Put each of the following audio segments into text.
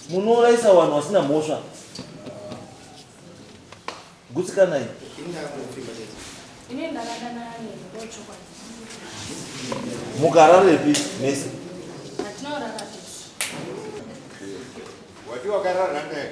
Munouraisa vanhu vasina mhosva. Gutsikanai. Mukararepi mese? Wati wakarara naye?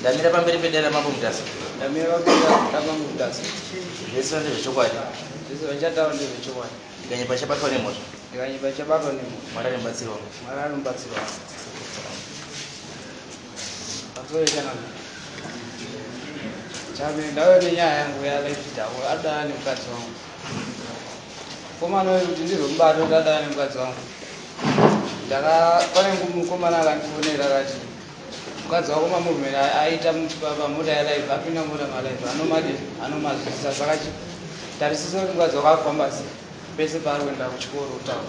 ndamira pamberi pedare mambo mutasa ndamira pamberi pedare mambo mutasa zvese vande zvechokwadi zvese vachataura ndezvechokwadi ndikanyepa chabatwa nemhosva ndikanyepa chabatwa nemhosva mwari anobatsirwa mwari anobatsirwa azoitana chame ndave nenyaya yangu yalaifitaura adana nemukadzi wangu mukomana uyu kuti ndirwe mubato ndadana nemukadzi wangu ndaka pane mukomana akandifonera akati mukadzi wako mamovement aita pamota yalive apinda mota malive anomadi anomazvisa saka tarisisa kuti mukadzi wako akufamba sei pese paari kuenda kuchikoro utaura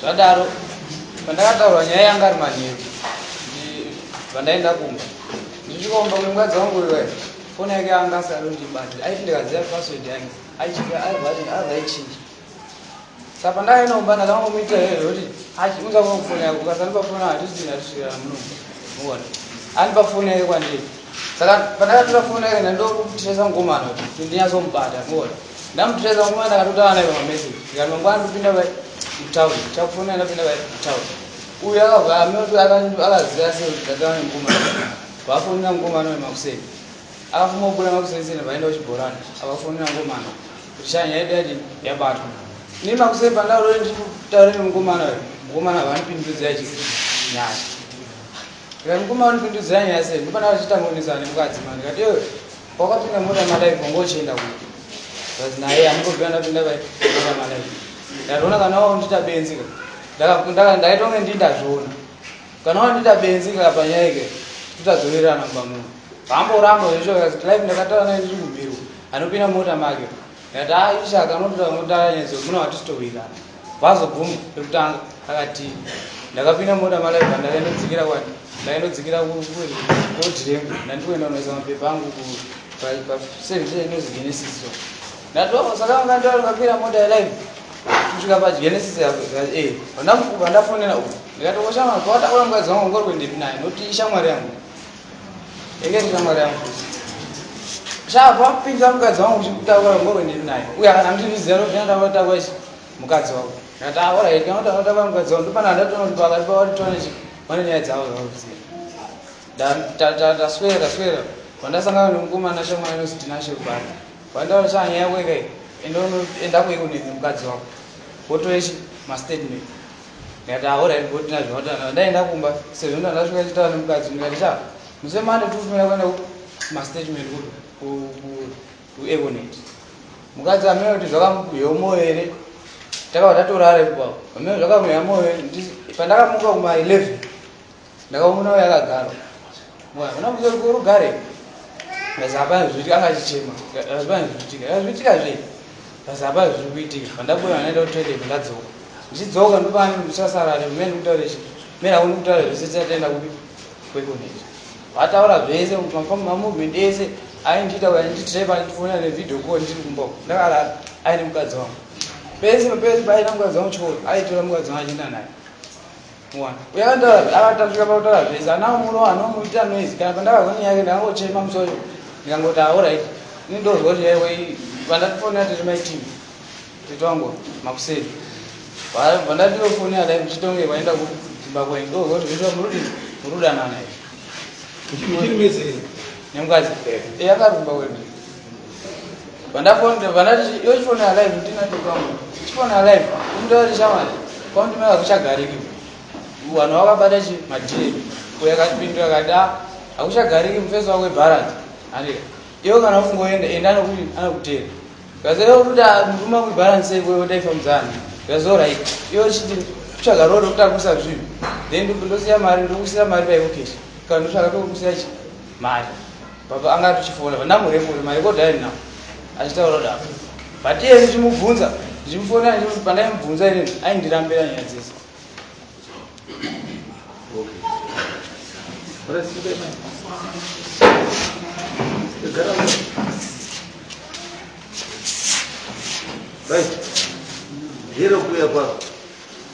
zvadaro pandakataura nyaya yanga ari manheru pandaenda kumba ndisvikaumba kwemukadzi wangu uyo wayo foni yake anga asari ndibati aiti ndikaziva password yange aichiaivaichinja sa pandakaenda kumba ndakangomuitira iyo yokuti achiunza kwangu foni yake ukasandipa foni hatisina tisvira muno muona andipa foni yake kwandiri saka pandakatora foni yake ndandokutiresa ngomano kuti ndinyatsomubata muona Ndamutracer nguva ndakatotaura naye pamamessage ndikati mangwana ndopinda pai kutown chakufonera ndapinda pai kutown uyu akabva amoti akaziva sei kuti ndataura nemukoma vafonera mukomana uyu makuseni akafuma kubuda makuseni seni vaenda kuchibhorani avafonera mukomana kuti shanya yaida yati yabatwa ini makuseni pandaurori ndiri kutaura nemukomana uyu mukomana havanipindudzira chi nyaya ndikati mukomana unipindudzira nyaya sei ndopanda vachitamunisana nemukadzi ma ndikati Wakapinda mota madai kongo uchienda kupi? Zvazi naye hamukoziva ndapinda pai mota madai. Ndazviona kana waundita benzi ka. Ndaka ndaitonge ndi ndazviona. Kana waundita benzi ka panyaya ike tutazowirirana mumba muno. Hamboramba zvesho zvazi life ndakatara naye ndiri kubirwa. Anopinda mota make. Ndati ah ishaka anotoda kunotara nyedzo muna watitowirirana. Vazoguma pekutanga akati ndakapinda mota malaiva ndakaindodzikira kwani ndaindodzikira kukoti rengu ndandiwenda unoisa mapepa angu paservice inozi genesis so ndati oh saka vanga ndira ndikakwira mota yalive kusvika pagenesis yako eh vandakukuba ndafonera uku ndikati oshamwari kwawataura mukadzi wangu ngori kuendepi naye noti ishamwari yangu Engage shamwari yangu. Zvava kupinda mukadzi wangu uchikutaura ngoro ndiri naye. Uye akana kuti ndiziva kuti ndanga ndataura ichi mukadzi wangu. Ndataura here kana kuti ndataura mukadzi wangu ndopana ndatona kuti pakati pavo titone chi pane nyaya dzavo zvavakuzia. Ndaswera ndaswera pandasangana nemukomana shamwari inonzi Tinashe Rubanda. Pandaona chana nyaya yako ikai enda kuiko nemukadzi wangu. Wotore chi mastatement. Ndikati ah alright bro tinazvo matana ndaenda kumba sezvo ndanga ndasvika chitaura nemukadzi ndikati cha muse mande tikufanira kuenda mastatement kuevonet mukadzi amene kuti zvakamukuhyewo moyo here takabva tatorara ipapo amene zvakamuhya moyo pandakamuka kuma 11 Ndakamuona uya akagara. Mwana mwana muzori ko rugare. Basa hapana zvitika akachichema. Hapana zvitika. Zvitika zve. Basa hapana zviri kuitika. Pandabuda naenda kutoilet ndadzoka. Ndichidzoka ndopani ndichasara ne mene kutaura chi. Mera uri kutaura zvese tataenda kupi? Kwekuneti. Vataura zvese mafam mamovement ese aindiita uya nditreva ndifona ne video call ndiri kumba. Ndakala aine mukadzi wangu. Pese pese paina mukadzi wangu chikoro aitora mukadzi wangu achienda naye. uyaakatasvika pakutaura zvese anawo murowa anomuitira noise kana pandakazwa nyaya yake ndakangochema musoyo ndikangoti aorit ini ndozwa kuti yaiwe vandatifonera tiri maitivi tete wangu makuseri vandatiyofonera dai muchitonge vaenda kuimba kwenyu ndozwa kuti zviitwa murudi murudanana nemukadzi eyakarumba wena Vandafona vandati yo chifona alive ndina ndikamu. Chifona alive ndari chamani. Kwa ndima akuchagariki. Vanhu vakabata chi madire. Kuya katipindura kada akuchagariki mfeso wako balance. Andika. Iyo kana ufungoenda enda anokuti anokutera. Kaze yo kuti nduma ku balance iwe utaifa mzana. That's all right. Iyo chiti kutsvaga road kutakusa zvinhu. Then ndosiya mari ndokusiya mari paivo cash. Kana ndotsvaga pekusiya chi mari. Baba anga atochifona but ndamureport my record aini now achitaura kudaro but iye ndichimubvunza ndichimufona pandaimubvunza inini aindirambira nyaya dzese Right. Hero kuya kwako.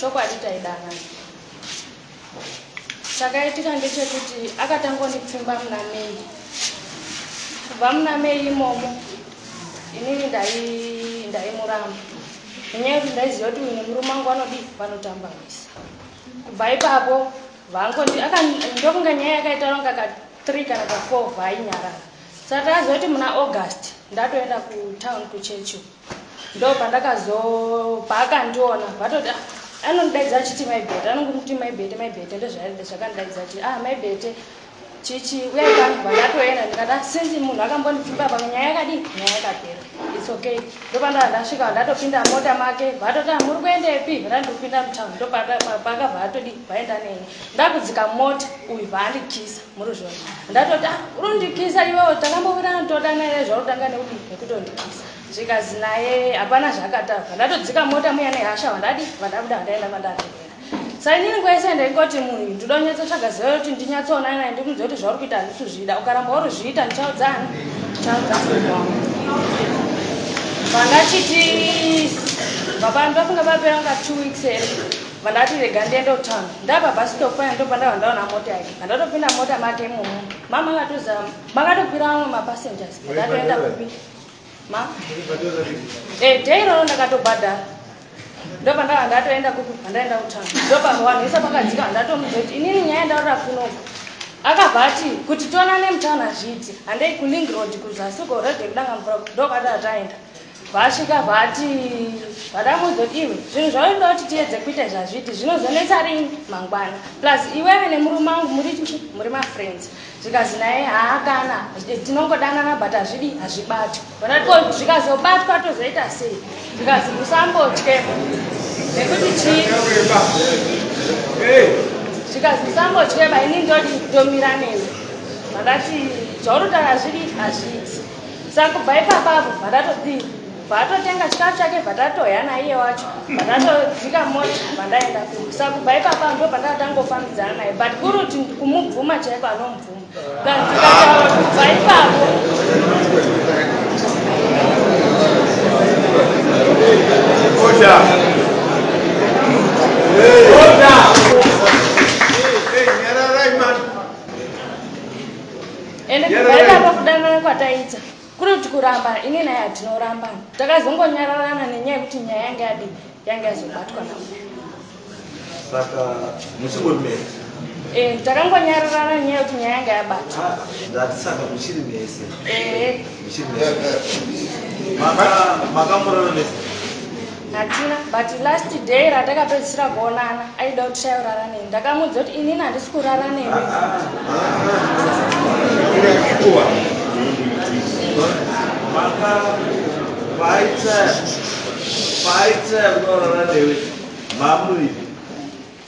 Chokwadi taida vanhu. Chakaitika ndechekuti akatanga kundipfimba muna May. Kubva muna May imomo inini ndaimuramba nenyaya yekuti ndaiziva kuti uyu nemurume wangu vanodii vanotamba misi. Kubva ipapo vangondi ndokunge nyaya yakaitaura kunga ka three kana ka four vainyarara. Saka takaziva kuti muna August ndatoenda kutown kuChurchill. ndopandakazo paakandiona vatoti ah, anondidaidza achiti mai bete anongomuti mai bete mai bete ndozvaida zvakandidaidza achiti ah mai bete chichi uyai pano vandatoenda ndikati ah, since munhu akambondipfimba pamwe nyaya yakadii nyaya yakapera its okay ndopanda vandasvika vandatopinda mota make vatoti ah, muri kuendepi vandandikupinda mutown ndopakabva vatodii vaenda neni ndakudzika mota uyu vaandikisa ndatoti ah, urondikisa iwewo takambobirana todana ere zvautanga nekuti nekutondikisa zvikazi naye hapana zvaakatava ndatodzika mota muya nehasha vandadi vandabuda vandaenda vandaatevera sainini nguva yese ndaingoti munhu ndinoda kunyatsotsvaga ziva yekuti ndinyatsoona naye ndikunzwa kuti zvauri kuita handisi kuzvida ukaramba uri zviita ndichaudzani vangachiti vapani vafunga vapera kunga two weeks here Vandati rega ndiende kutown. Ndava pabus stop paya ndipo pandava ndaona mota yacho. Pandatopinda mumota make imomo. Ma makatoziva makatokwira vamwe mapassengers. Ndatoenda kupi? Ma? Eh, day iroro ndakatobhadhara. Ndopandava ndatoenda kupi? Pandaenda kutown. Ndopava vanhu vese pakadzika vandatomudza kuti inini nyaya ndaurira kunoku. Akabva ati kuti tionane mutown hazviiti. Handei kuLink Road kuzasi uko road yekudanga mvura ndokwadava taenda. Vasvika vati vada kuzodii zvinhu zvaunoda kuti tiedze kuita zvazviti zvinozonetsa rini mangwana plus iwewe nemurume wangu muri muri mafriends zvikazi naye haa kana tinongodanana but hazvidi hazvibatwi ko zvikazobatwa tozoita sei zvikazi musambotye nekuti chii zvikazi musambotyeba ini ndodi ndomira newe vakati zvaunotaura zvidi hazviiti Saka kubva ipapa apo bva tatodii bva atotenga chikafu chake bva tatoya naiye wacho bva tatodzika mota bva ndaenda kumba saka kubva ipapa ndo bva tatangofambidzana naye but kuri kuti kumubvuma chaiko anomubvuma ndikataura kubva ipapo Order. Hey. Order. Hey, hey, nyararai man. ende kubaira pakudanana kwataita kuri kuti kuramba ini naye hatinoramba takazongonyararana nenyaya yekuti nyaya yange yadi yange yazobatwa na saka muchingomera eh, takangonyararana nyaya yekuti nyaya yange yabatwa ah, ndatisaka muchiri mese eh. makamurana ne hatina but last day ratakapedzisira kuonana aida kuti shairara nei ndakamuudza kuti inini handisi kurara newe ah, ah, ah.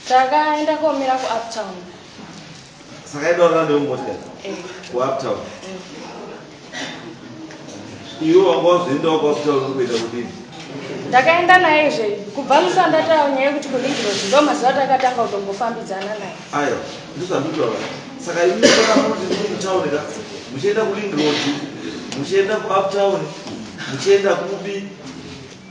takaenda komira kuuptown Saka ido rande umbotya kuuptown. Iwe wanga wazoendawo kuuptown kuita kudini? Ndakaenda naye zve kubva musi wandataura nyaya yekuti kuNigrozi ndo mazuva atakatanga kutombofambidzana naye. Aiwa, ndozvanditaura. Saka imi pakamuti muri mutown ka muchienda kuLingrozi muchienda kuuptown muchienda kupi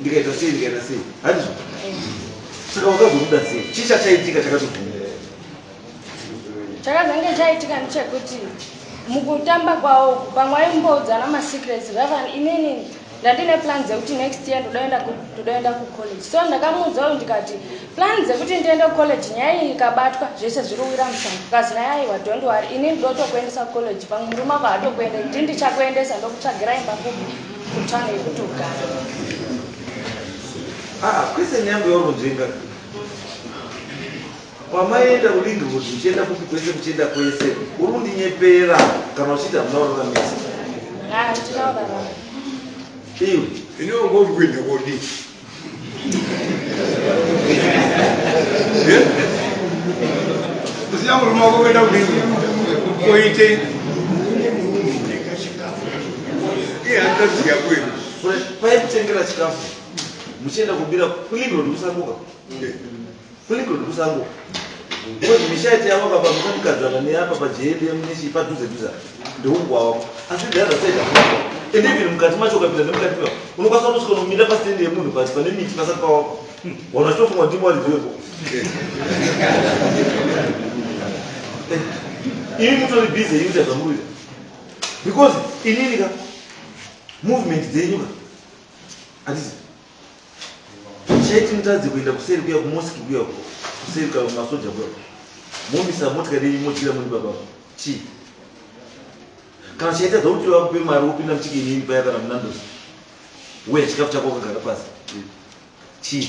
Ndikaita sei ndikaita sei handizvo saka wakazobuda sei chii chachaitika chakatobvuma chakazange chaitika ndechekuti mukutamba kwawo pamwe aimboudzana masecrets vavan inini ndandine plan dzekuti next year ndodaenda kucollege so ndakamuudza uyu ndikati plan dzekuti ndiende kucollege nyaya iyi ikabatwa zvese zviri uwira mushango kazi naye aiwa dont wari ini ndotokuendesa kucollege pamwe murume ako hatokuende ndi ndichakuendesa ndokutsvagira imba kubi Kutange kutogara. Ah, kwese nyangwe wakunzvenga. Kwamaienda kuLingwood uchienda kupi kwese kuchienda kwese. Uri kundinyepera kana uchiita hamuna uraramisa. Ah, ndinourarama. Iwe. Iniwo ngokuenda kodii? paekutengera chikafu muchienda kubira clean ndokusamuka Fleetwood kusango ngozi misha iti yavo baba musandikadzana neapa pajeyende munishi padhuze dhuze ndeungwawa asi dhaza saida and even mukati macho ukapinda nemukati mewa unokwanisa kutosvika unomira pasitendi yemunhu pasi pane miti pasati pawako hmm. wana chitofunga kuti mwari dziwepo ini mutori busy yekuita zvamuruita because inini ka movement dzenyu ka hatizi church mutadze kuenda kuseri kuya kumosque kuya uko kuseri ka masoja kuya momisa motikari yenyu modyira moni baba chii kana chaitadza kuti vakupe mari wopinda muchiki inini paya kana munandosi we chikafu chako wakagara pasi chii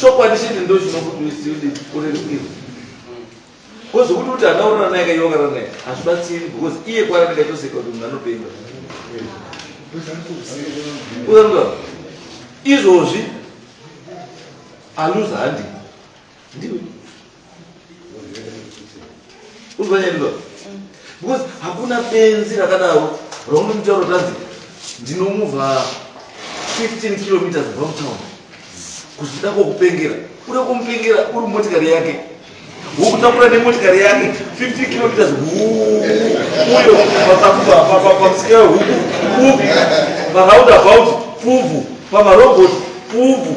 chokwadi chete ndo chinokuti misleading urerukirwe because kuti kuti hana urara naye kaiwa karara naye hazvibatsiri because iye kwarati kaitoseka kuti munhu anopenga uzanuka izvozvi aluza handii Ndiwe. Uzoyendo. Because hakuna benzi rakadaro romu mtoro tanzi ndinomuvha 15 kilometers from town. Kuzvida kokupengera. Kuda kumupengera uri motikari yake. Wokutakura nemotikari yake 50 kilometers huu uyo pasakuba papamusika huku fuvu paroundabout fuvu pamarobot fuvu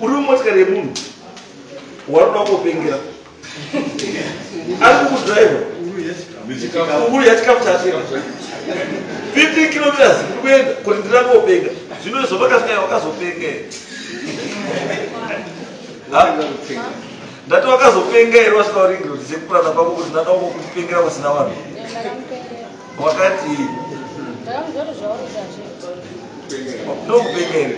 uri mumotikari yemunhu waroda kungopengera ari kukudriva kukuru yachikafu chatenga 15 kilometers uri kuenda kuti ndira kungopenga zvino izvo vakafika vakazopenga here ndati wakazopenga here wasvika waringiro dzisekupurana kwako kuti ndada kungokupengera vasina vanhu Wakati. Ndakuzoti zvauri zvazviti. Ndokupengera.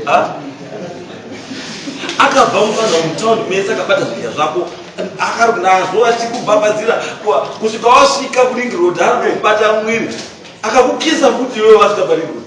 Ah? akabva mufanha mutown mese akabata zvidya zvako akari nazvo achikubhabhadzira kusvika wasvika kuring road ari kubata mwiri akakukisa futi iwewe wasvika paring road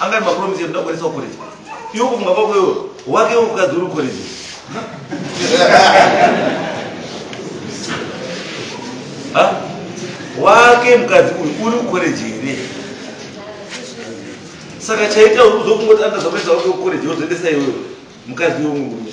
Anga ari mapromise ekuda kuendesa kucollege. Iwe kufunga kwako iwe wake ukadzi uri kucollege. Ha? Wake mukadzi uyu uri kucollege here? Saka chaita uzokungoti anda zvamesa wake kucollege wozoendesa iwewe mukadzi iwe murume.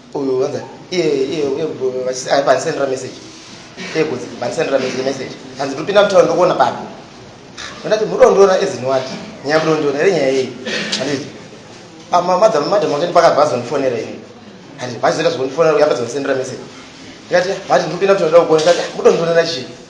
uyu vanza iye iye uye vachisi ai bandisendera message iye kunzi bandisendera message message hanzi ndopinda mutaura ndokuona papi ndati murondiona as in what nyaya murondiona here nyaya yei handiti ama madam madam wake ndipaka vazonifonera ini handiti vachizoita zvokundifonera uye vazondisendera message ndikati vati ndopinda mutaura ndokuona ndati murondiona nachii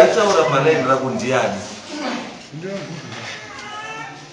Aitaura palaini rako ndiani?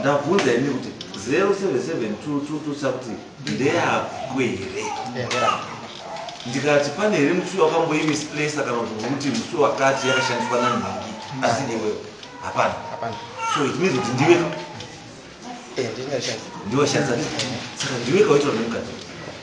ndabvunza ini kuti 077222 kuti ndeyako here ndikati pane here musi wakamboimisplace kana kuti vokuti musi wakati yakashandiswa nani mangi asi iwewe hapana so it means kuti ndiwe eh, ndiwashandisa saka ndiwe kawaitwa nemukadzi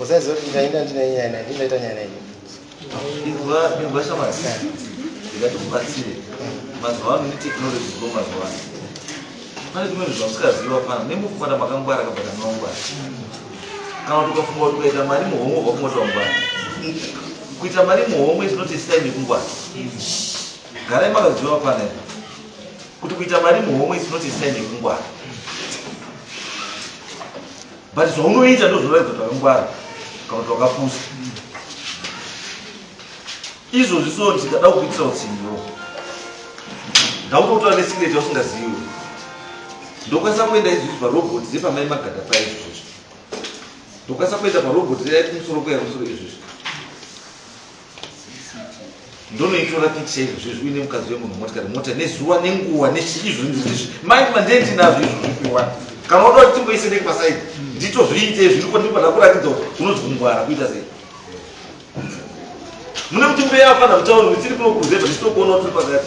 Usaiziva kuti ndainda ndine nyaya naye, ndini ndaita nyaya naye. Inzwa, inzwa shamwari. Ndikati kubatsire. Mazuva ano ne technology dziko mazuva ano. Pane zvimwe zvinhu zvamusikaziva pana nemufumata makangwara kabva kanongwara. Kana kuti ukafunga kuti ukaita mari muhomwe wobva kungoti wangwara. Kuita mari muhomwe is not a sign yekungwara. Garai makaziva panel kuti kuita mari muhomwe is not a sign yekungwara. But zvaunoita ndozvoratidza kuti wakangwara kana kuti wakapusa. Izvozvi so ndikada kukuitira utsinyiwo. Ndakutotora nesecret yausingazivi. Ndokwanisa kuenda izvozvi parobot dzepamai magada paya izvozvi. Ndokwanisa kuenda parobot reya kumusoro kweya kumusoro izvozvi. ndonoitora picture izvozvo izvi uine mukadzi wemunhu motikari mota nezuva nenguva nechii zvinizvi mind manje ndinazvo izvo zvipiwa kana unoda kuti timboise neke pasaidi nditozviite zviriko ndipo ndakuratidza kuti unonzi kungwara kuita sei mune kuti mbeya afana kutaura kuti tiri kunokuruzetwa tichitokuona kuti pakati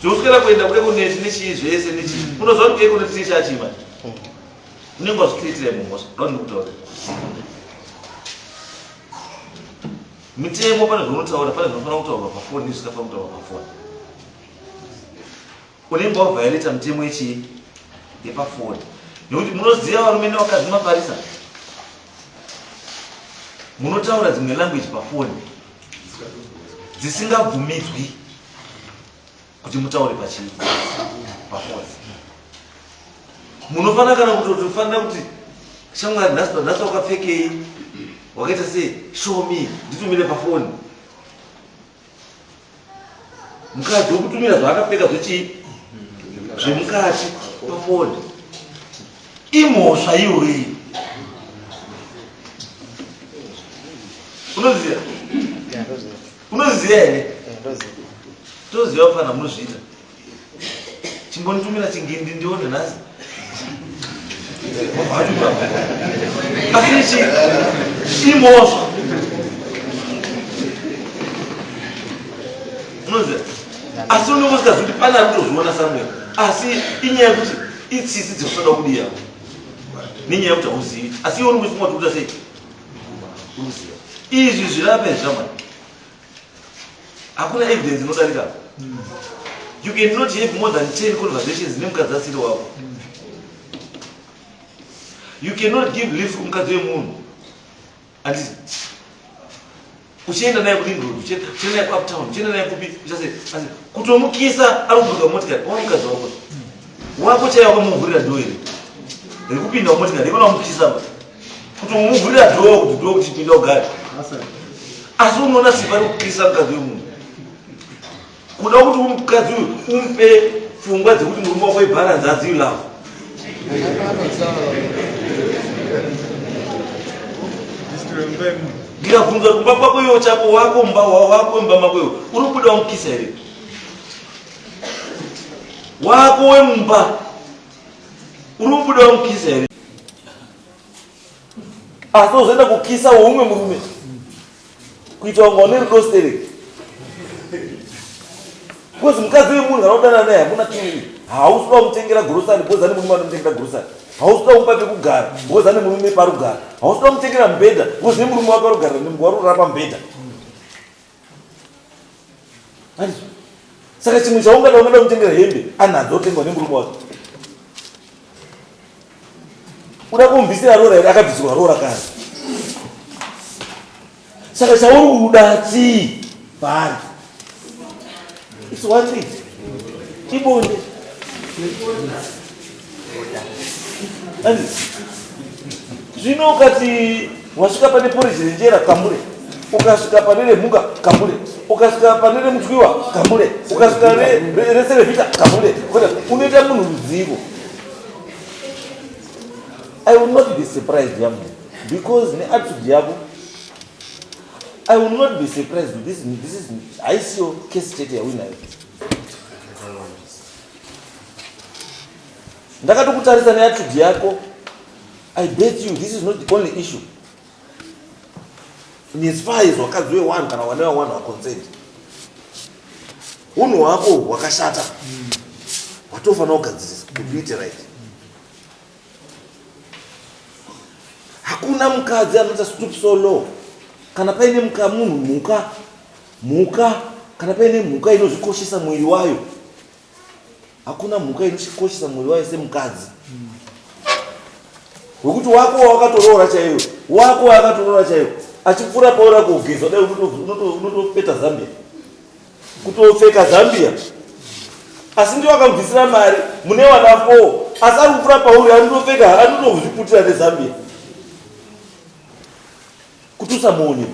zvinoswera kuenda kule kuneti nechii zvese nechii unoziva kuti keko neti nechii achima unenge wazvicreatira imwe mhosva ndodini kutaura mitemo pane zvaunotaura pane zvinofanira kutaurwa pafoni nezvisikafana kutaurwa pafoni unenge wavhaireta mitemo yechii yepafoni nekuti munoziva varume nevakadzi maparisa munotaura dzimwe language pafoni dzisingabvumidzwi kuti mutaure pachii pafoni munofanira kana kutotofanira kuti shamwari nhasi nhasi wakapfekei wakaita sei show me nditumire pafoni mukadzi wokutumira zvaakapfeka zvechii zvemukati pafoni Imhosva iyoyo iyo. Unoziva? Unoziva here? Toziva fana munozviita. Chimbonitumira chingindi ndione nhasi. Asi ichi imhosva. Unoziva? Asi unenge usikazivi kuti pane ari kutozviona somewhere. Asi inyaya yekuti Itsitsi dzekutoda kudiya nenyaya yekuti hauzivi asi iwe unenge uchifunga kuti kuita sei uri kuziva izvi zvirape zvamai hakuna evidence inodarika you can not have more than 10 conversations nemukadzi asiri wako you cannot give leave kumukadzi wemunhu Anditi uchienda naye kuring road uchienda naye kuuptown uchienda naye kupi uchase asi kutomukisa ari kuburuka motikari kwaona mukadzi wako wako chaiye wakamuvhurira dhoo iri rekupinda mumotikari ivona wamukisa pa kutomuvhurira dhoo kuti dhoo kuti pinda ugare asi unoona sipa rekukisa mukadzi wemunhu kuda kuti mukadzi uyu umupe pfungwa dzekuti murume wako ibharanzi adzi you love ndikabvunza kumba kwako iwo chako wako mba wako imba mako iwo uri kubuda wamukisa here wako wemumba uri kubuda wamukisa here asi uzoenda kukisa woumwe murume kuita wanga une rudo stereki because mukadzi wemunhu anodana naye hamuna chii hausi kuda kumutengera gurosani because ane murume anomutengera gurosani hausi kuda kumupa pekugara because ane murume parugara hausi kuda kumutengera mubhedha because ne murume wake arugarira nemgwa rurara pamubhedha Handizo. Saka chimwe chaungada ungada kutengera hembe anadzo otengwa nemurume wake. Uda kumbisira roora here akabvisirwa roora kare. Saka chauri kuda chii paari? It's one thing. Ibonde. Zvino ukati wasvika pane poriji renjera kamure ukasvika pane remhuka kamure ukasvika pane remutwiwa kamure ukasvika rese revita kamure unoita munhu ruzivo i will not be surprised yamu because neattitude yavo I will not be surprised with this. This is ICO case state ya winner. Ndakati kutarisa ne attitude yako. I bet you this is not the only issue. Ni as far as wakadzi we one kana wana one wa consent. Uno wako wakashata. Watofa na ukadzisa. Complete right. hakuna mukadzi anoita stoop so low kana paine muka munhu mhuka mhuka kana paine mhuka inozvikoshesa mwiri wayo hakuna mhuka inochikoshesa mwiri wayo semukadzi wekuti wako wakatoroora chaiwo wako wakatoroora chaiwo achipfuura paura kugeza dai unotopeta zambia kutopfeka zambia asi ndiwo akamubvisira mari mune wana four asi ari kupfura pauri anotopfeka anotozviputira nezambia kuti usamuone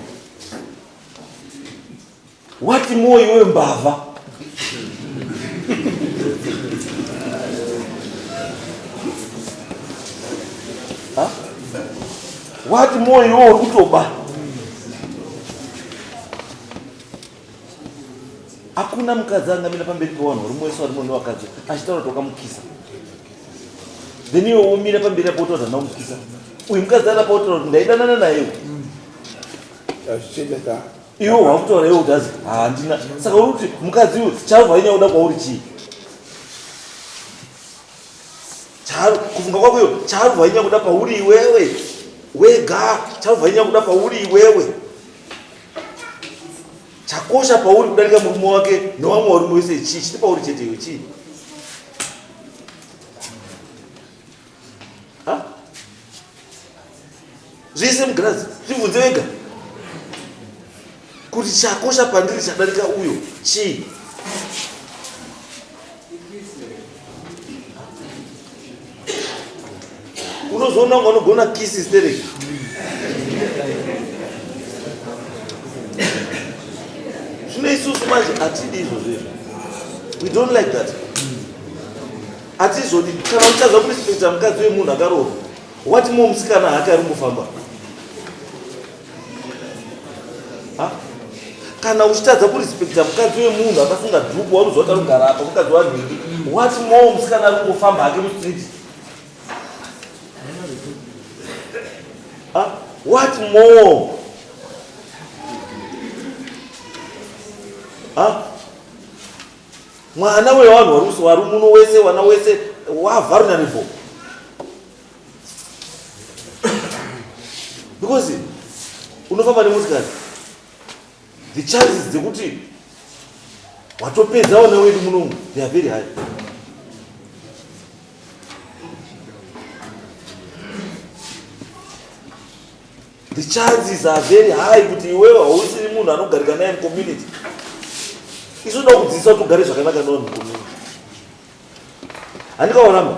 wati moyo iwe mbavha wati moyo iwe uri kutoba hakuna mukadzi angamira pamberi pewanhu uri mwese wari mune wakadzi achitaura kuti wakamukisa then iwe womira pamberi apo utaura kuti ndaumukisa uyu mukadzi arapa utaura kuti ndaidanana naye iwe wakutaura iwe kuti azi handina ah, saka uri kuti mukadzi uyu chauva inyaya uda kwauri chii kufunga kwako iyo chauva inyaya kuda pauri iwewe wega chauva inyaya kuda pauri iwewe chakosha pauri kudarika murume wake newamwe warume wese chii chiti pauri chete iyo chii zvese mugirazi zvibvunze vega kuti chakosha pandiri chadarika uyo chii unozoona kunge unogona kisi stereki zvino isusu manje hatidi izvozvo izvo we don't like that hatizvodi kana uchazva kurespekta mukadzi wemunhu akarova wati mo musikana hake ari kufamba kana uchitadza kurespecta mukadzi wemunhu akafunga dhuku waunozoti anogara apa mukadzi wanhingi what more musikana ari kungofamba hake mustreet ah, what more ah, mwana wevanhu wari muno wese wana wese wavharunanivo because unofamba nemotikari the chances dzekuti watopedza wana wedu munomu they are very high the chances are very high kuti iwewe hausiri munhu anogarika naye mucommunity isu da kudzidzisa kuti ugare zvakanaka nawo mucommunity handikaonama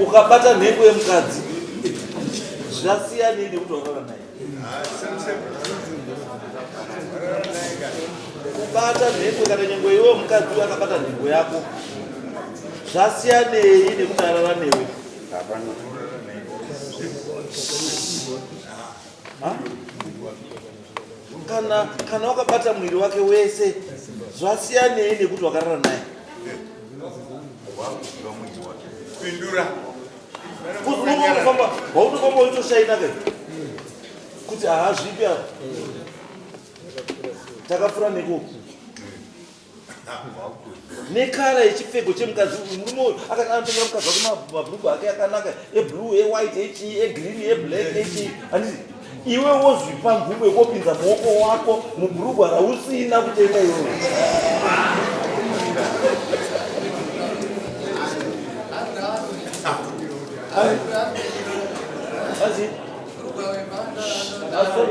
ukabata nhengo yemukadzi zvasiyanei nekuti wakarora naye kubata nhengo kana nyengo iwe mukadzi uyo akabata nhengo yako zvasiyanei nekuti arara newe Huh? kana kana wakabata mwiri wake wese zvasiyanei nekuti wakarara naye pindura waunofamba waitoshaina ke kuti haazvipi apa takapfura nekuku nekara yechipfeko chemukadzi uyu murume uyu akati anotengera mukadzi wake ma- mabhurugwa ake akanaka eblue ewhite echii egreen eblack echii handiti iwe wozvipa nguva yekopinza muoko wako mubhurugwa rausina kutenga iwewe Asi- asi-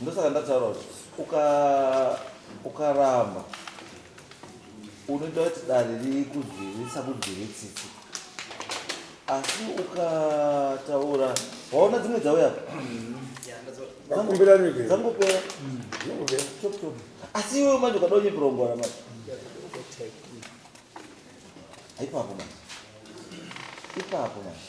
ndosaka ndataura kuti ukaramba uka unoita kuti dare rikuzvirisa kudzviri tsitsi asi ukataura waona dzimwe dzauya dzangopera asi iwe manje ukada unyepirongoara manje ipapo manje ipapo manje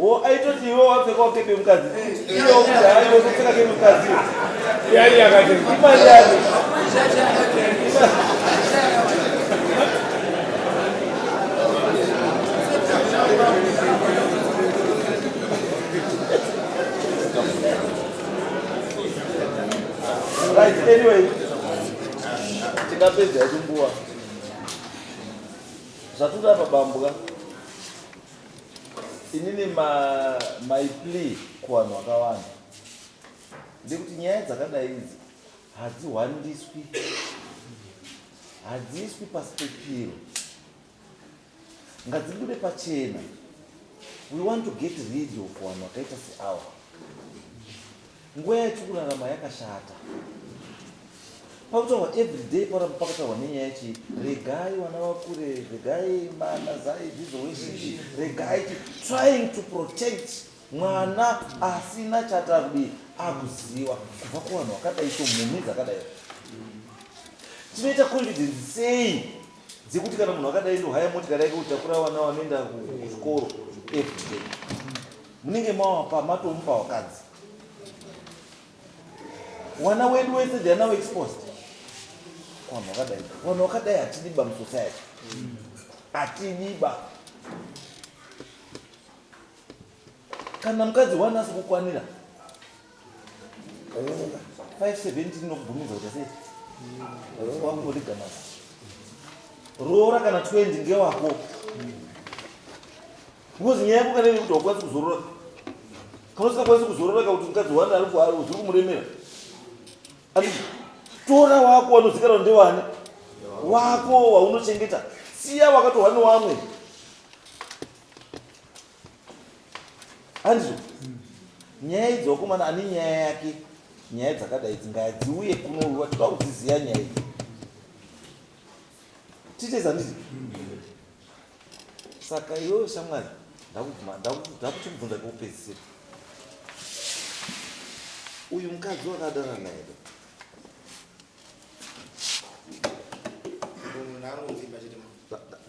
Oh, aitoti iwe wapfeka wakepe mukadzi iwe ukudai wekupfeka ke mukadzi yari yakati imari yake right anyway tikapedza yatumbuwa zvaturi apa bambuka inini my plea kuvanhu vakawanda ndekuti nyaya dzakadai idzi hadzihwandiswi hadziiswi pasi pepiro ngadzibude pachena we want to get rid of vanhu vakaita seawa Nguva yatiri kurarama yakashata. Pakutaurwa every day pakuramba pakataurwa nenyaya chii? Regai vana vakure, regai mana zai zvizo weshishi, regai trying to protect mwana asina chatakudii akuziwa kubva kuvanhu vakadai so mhumhi dzakadai tinoita confidence sei dzekuti kana munhu akadai ndo haya motikari yake kutakura vana vanoenda kuzvikoro everyday munenge mawapa matomupa wakadzi wana wedu wese they are now exposed wanhu wakadai wanhu wakadai hatidiba musociety hatidiba kana mukadzi wani asi kukwanira 517 inobvumidza kuti sei wakungotigamasa roora kana 20 ngewako Because nyaya yako kana ine kuti haukwanisi kuzorora kana usingakwanisi kuzorora ka kuti mukadzi wani ari kuari uziri kumuremera ati tora wako wanozikanwa ndewani wako waunochengeta siya wakatohwa newamwe andizvo nyaya idzi wakomana ane nyaya yake nyaya dzakadai idzi ngadziuye kunouyiwa toda kudziziva nyaya idzi titezandizi saka iwewe shamwari ndakuchibvunza kokupedzisira uyu mukadzi wakadana naye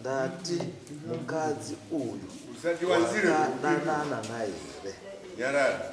ndati mukadzi uyu usati wanzire kudanana naye here nyarara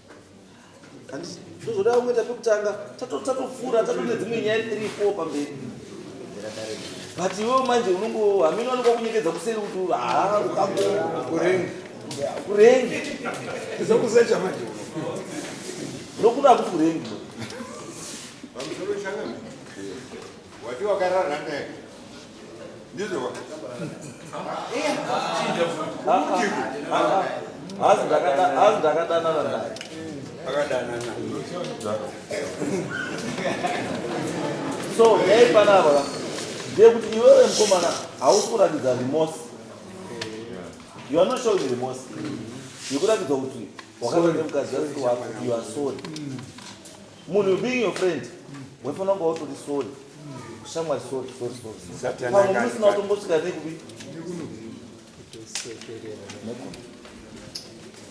Handisi ndozoda kuita pekutanga tatopfuura tato nedzimwe nyaya three four pamberi but iwewo manje unongo hameno wanoka kunyekedza kuseri kuti haa ukakurenge kurenge zokuzecha manje nokuda kuti kurenge Wati wakarara naye. Ndizvo wa. Chinja futi. Umutiku. Hazi ndakada hazi ndakadanana naye. Akadanana. So, hey panapa. Ndiye kuti iwewe mkomana hausi kuratidza remorse. You are not showing remorse. Yekuratidza kuti wakaita mukadzi wako you are sorry. munhu being your friend waifanira kunge wautori sori kushamwari sori sori soripamwe musina kutombosvika nekupi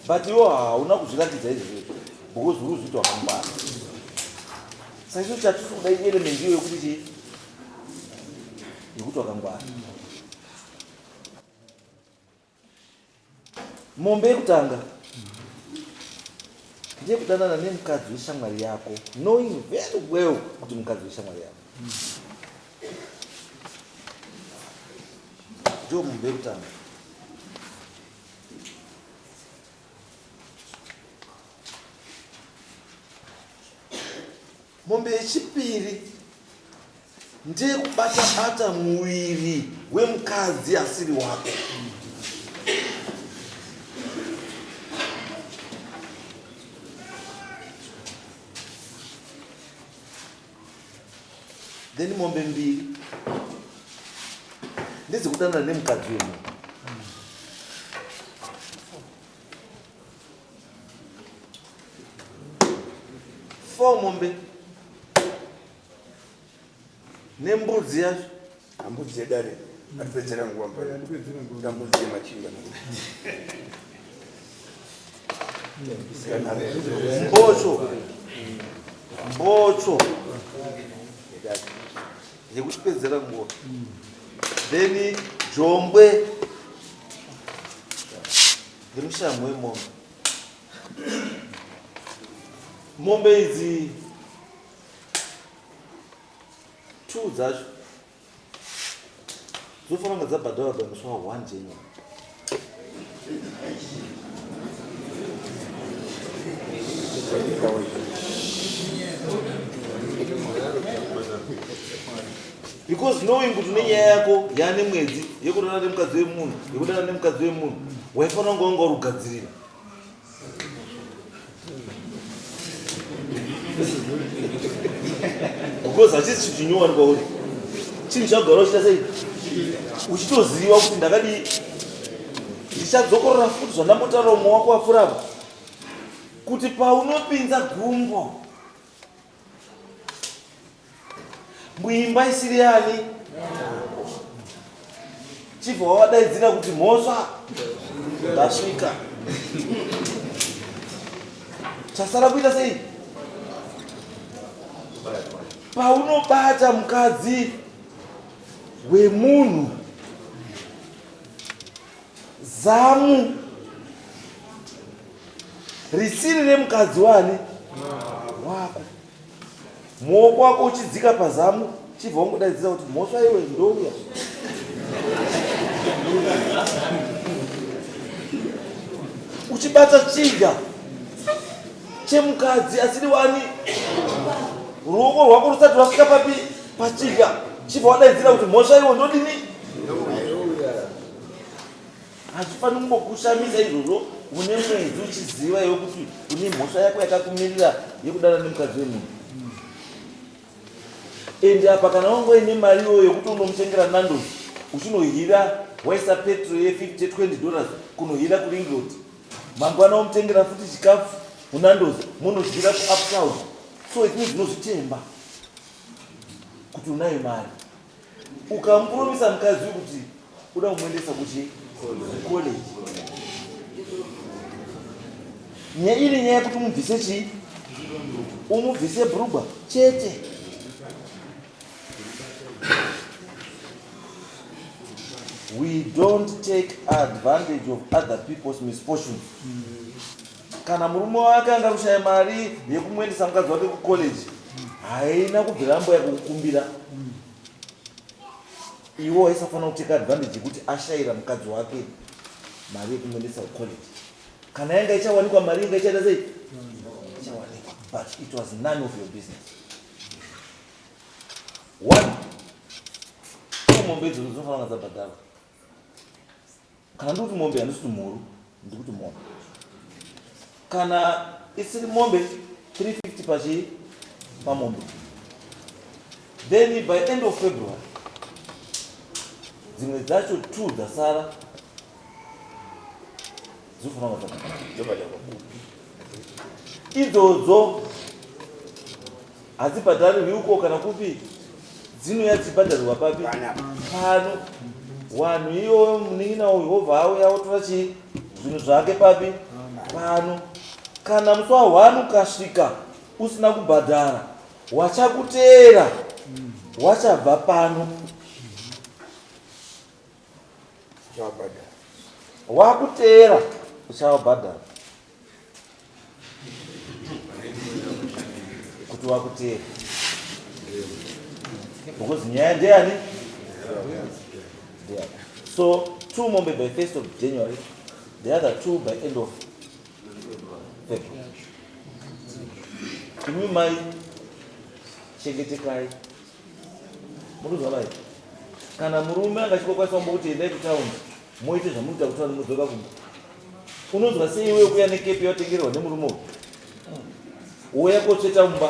but iwo hauna kuzviratidza izvi because uri kuzviita wakamubara saicho chatisi kuda ielement iyo yekuti chii yekuti wakangwara Mombe yekutanga ndeyekudanana nemukadzi weshamwari yako knowing very well kuti mukadzi weshamwari yako ndiwo mombe yekutanga mombe yechipiri ndeyekubata bata muviri wemukadzi asiri wako then mombe mbiri ndedzekudanana nemukadzi wemunhu four mombe nembudzi yacho hambudzi yedare atipedzera nguva mbambudzi yemachinga mbocho mbocho yekutipedzera nguva then jombwe yemushamhu wemombe mombe idzi two dzacho dzofanira kunge dzabhadharwa by musi wa one january because knowing kuti nenyaya yako yaane mwedzi yekudana nemukadzi wemunhu yekudana nemukadzi wemunhu waifanira kunge wanga uri kugadzirira because hachisi chinhu chinyowani kwauri chinhu chagara uchita sei uchitoziva kuti ndakadii ndichadzokorora futi zvandambotaura umwe wako wapfurava kuti paunopinza gumbo muimba isiri yani chibva wavadaidzira kuti mhosva ndasvika chasara kuita sei paunobata mukadzi wemunhu Zamu risiri remukadzi wani wako muoko wako uchidzika pazamu chibva wongodaidzira kuti mhosva iwe ndouya uchibata chinja chemukadzi asiri wani ruoko rwako rusati rwasvika papi pachinja chibva wadaidzira kuti mhosva iwe ndodini hazvifaniri kungokushamisa izvozvo une mwedzi uchiziva iwe kuti une mhosva yako yakakumirira yekudana nemukadzi wemunhu ende apa kana wangoe nemari iyoyo yekuti unomutengera nandos uchinohira waisa petro ye 50 20 dollars kunohira kuringrod mangwana omutengera futi chikafu munandos munohira kuuptown so it means unozvitemba kuti unayo mari ukamupromisa mukadzi uyu kuti uda kumuendesa kuchi college nyaya iri nyaya yekuti umubvise chii umubvise brugwa chete we don't take advantage of other people's misfortunes mm. Kana murume wake anga kushaya mari yekumuendesa mukadzi wake kucollege haina kubvira amboya kukukumbira iwo aisafanira kuteka advantage yekuti ashayira mukadzi wake mari yekumuendesa kucollege kana yanga ichawanikwa mari inga ichaita sei ichawanikwa but it was none of your business one mombe idzo dzinofanira dzabhadharwa Kana ndikuti mombe handisi kuti mhuru ndikuti mombe. Kana isiri mombe 350 pachii pamombe. Then by end of February dzimwe dzacho two dzasara dzinofanira kuva dzakabva idzodzo hadzibhadharirwi uko kana kupi dzinouya dzichibhadharirwa papi pano wanhu iyoyo munin'ina uyu wobva auya wotora chii zvinhu zvake papi pano kana musi wahwani ukasvika usina kubhadhara wachakuteera wachabva pano wakuteera uchavabhadhara kuti wakuteera because nyaya ndeyani so two mombe by first of january the other two by end of february imi mai chengetekai muruzi wamai kana murume angachikokwanisa kumbo kuti endai kutown moite zvamunoita kutaun mudzoka kumba Unonzwa sei iwe kuya nekepi yatengerwa nemurume uyu? Woya kotsveta mumba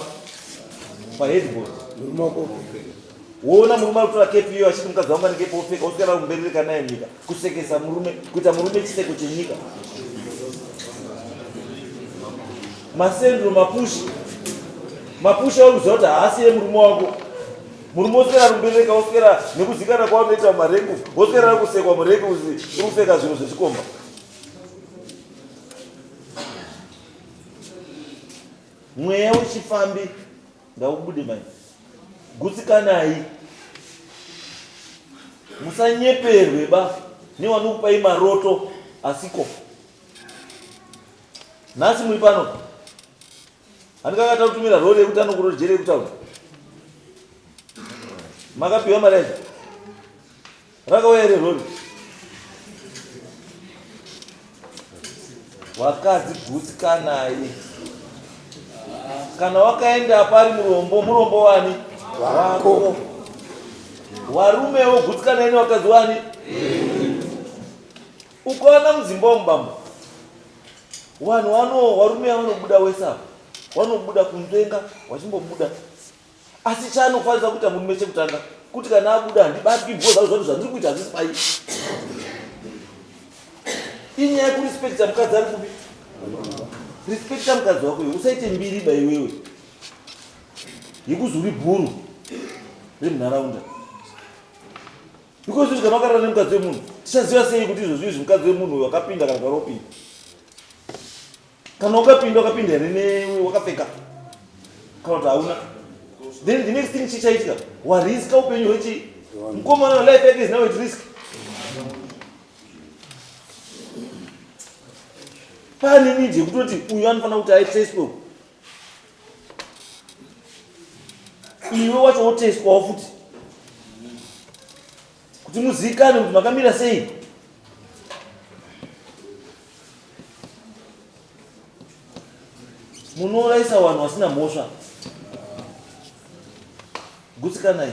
pa headboard. Murume wako. Woona murume akutora kepi iyo achiti mukadzi wangu anekepi wopfeka woswera kumberereka naye nyika. Kusekesa murume, kuita murume chiseko chenyika. Masendro mapushi. Mapushi auziva kuti haasi yemurume wako. Murume oswera rumbereka oswera nekuzikana kwavanoita mumarengu oswera rekusekwa murengu ukuseka zvinhu zvechikomba. Mweya wechifambi ngaubude mai. Gutsikanai. Musanyeperwe ba nevanokupai maroto asiko. Nhasi muri pano. Handikanga takutumira rori yekuti anokuro jere yekutaura. Makapiwa mari yacho. Rakauya ere rori. Wakadzi gutsi kanai. Kana wakaenda pari murombo, murombo wani? Wako. Warume wo gutsi kanai wakadzi wani? Yeah. Ukaona mudzimba umu bambo, vanhu vano varume vanobuda wese apa, vanobuda kunzvenga vachimbobuda, asi chaanofanira kuita murume chekutanga kuti kana abuda handibatwi bho zvangu zvanhu zvandiri kuita hazvisi pai. Inyaya yekurespekta mukadzi ari kupi? Respekta mukadzi wako iwe, usaite mbiri ba iwewe yekuzi uri bhuru remunharaunda. because kuti kana wakarara nemukadzi wemunhu tichaziva sei kuti izvozvi izvi mukadzi wemunhu uyo wakapinda kana karopinda kana wakapinda wakapinda here newe wakapfeka kana kuti hauna then the next thing chichaitika wariska upenyu hwechi mukomana welife yake is now at risk pane nidi yekutoti uyu anofanira kuti aiteswe iwe wacho wotestwawo futi kuti muzikane kuti makamira sei munouraisa vanhu vasina mhosva gutsikanai